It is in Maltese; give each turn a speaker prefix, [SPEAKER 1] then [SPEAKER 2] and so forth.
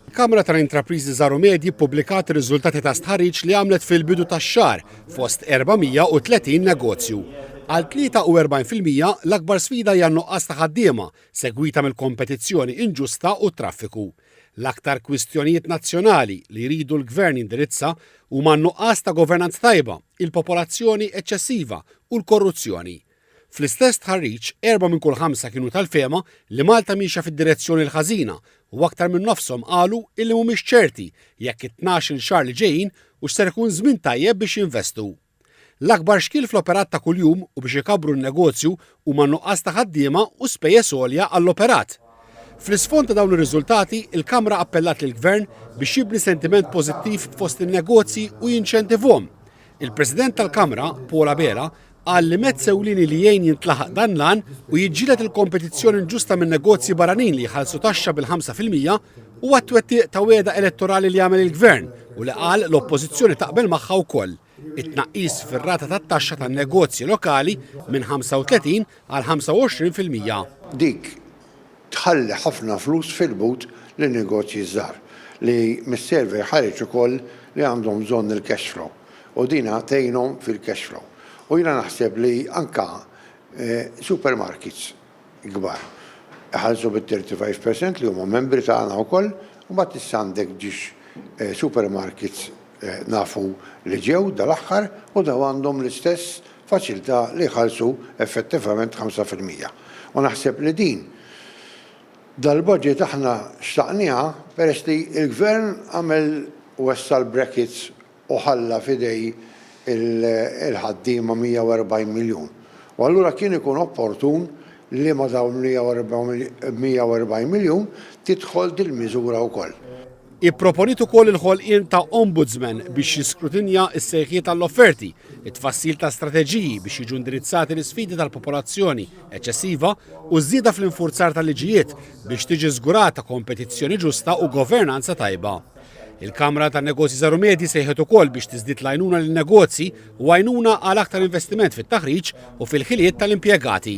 [SPEAKER 1] Kamra tal-Intrapriżi Żgħar u Medji ppubblikat ir-riżultati ta' stħarriġ li għamlet fil-bidu tax-xahar fost 430 negozju. Għal 43 fil-mija, l-akbar sfida hija n-nuqqas ta' ħaddiema, segwita mill-kompetizzjoni inġusta u t-traffiku. L-aktar kwistjonijiet nazzjonali li jridu l-Gvern jindirizza huma n-nuqqas ta' governanza tajba, il-popolazzjoni eċċessiva u l-korruzzjoni. Fl-istess stħarriġ, erba' minn kull ħamsa kienu tal-fehma li Malta miexja fid-direzzjoni l-ħażina u aktar minn nofshom qalu illi mhumiex ċerti jekk it-tnax-il xahar li ġejjin hux ser ikun żmien tajjeb biex jinvestu. L-akbar xkiel fl-operat ta' kuljum u biex ikabbru n-negozju huma n-nuqqas ta' ħaddiema u spejjeż għolja għall-operat. Fl-isfond ta' dawn ir-riżultati, il-Kamra appellat lill-Gvern biex jibni sentiment pożittiv fost in-negozji u jinċentivhom Il-President tal-Kamra, Paul Abela, qal li mezz ewlieni li jgħin jintlaħaq dan l-għan u jiġġieled il-kompetizzjoni inġusta minn negozji barranin li jħallsu taxxa bil-5 fil-mija u għat-twettiq ta' wegħda elettorali li għamel il-Gvern u li qal l-Oppożizzjoni taqbel magħha wkoll it-tnaqqis fir-rata tat-taxxa tan-negozji lokali minn 35 għal 25 fil-mija. Dik
[SPEAKER 2] tħalli ħafna flus fil-but lil negozji żgħar li mis-survey ħareġ ukoll li għandhom bżonn il-cash flow u din tgħinhom fil-cash flow. U jiena naħseb li anke supermarkets kbar iħallsu bit-thirty five per cent li huma membri tagħna wkoll u mbagħad issa għandek ġiex supermarkets nafu li ġew dal-aħħar u dawn għandhom l-istess faċilità li jħallsu effettivament ħamsa fil-mija. U naħseb li din dal-budget aħna xtaqnieha peress li l-Gvern għamel wessa' l-brackets u ħalla f'idej il-ħaddiema 140 miljun. U allura kien ikun opportun li ma' dawn il-140 miljun tidħol dil-miżura wkoll. Hi pproponiet
[SPEAKER 1] ukoll il-ħolqien ta' Ombudsman biex jiskrutinja s-sejħiet għall-offerti, it-tfassil ta' strateġiji biex jiġu indirizzati l-isfidi tal-popolazzjoni eċċessiva u ż-żieda fl-infurzar tal-liġijiet biex tiġi żgurata kompetizzjoni ġusta u governanza tajba. Il-Kamra tan-Negozji Żgħar u Medji sejħet ukoll biex tiżdied l-għajnuna lin-negozji u għajnuna għal aktar investiment fit-taħriġ u fil-ħiliet tal-impjegati.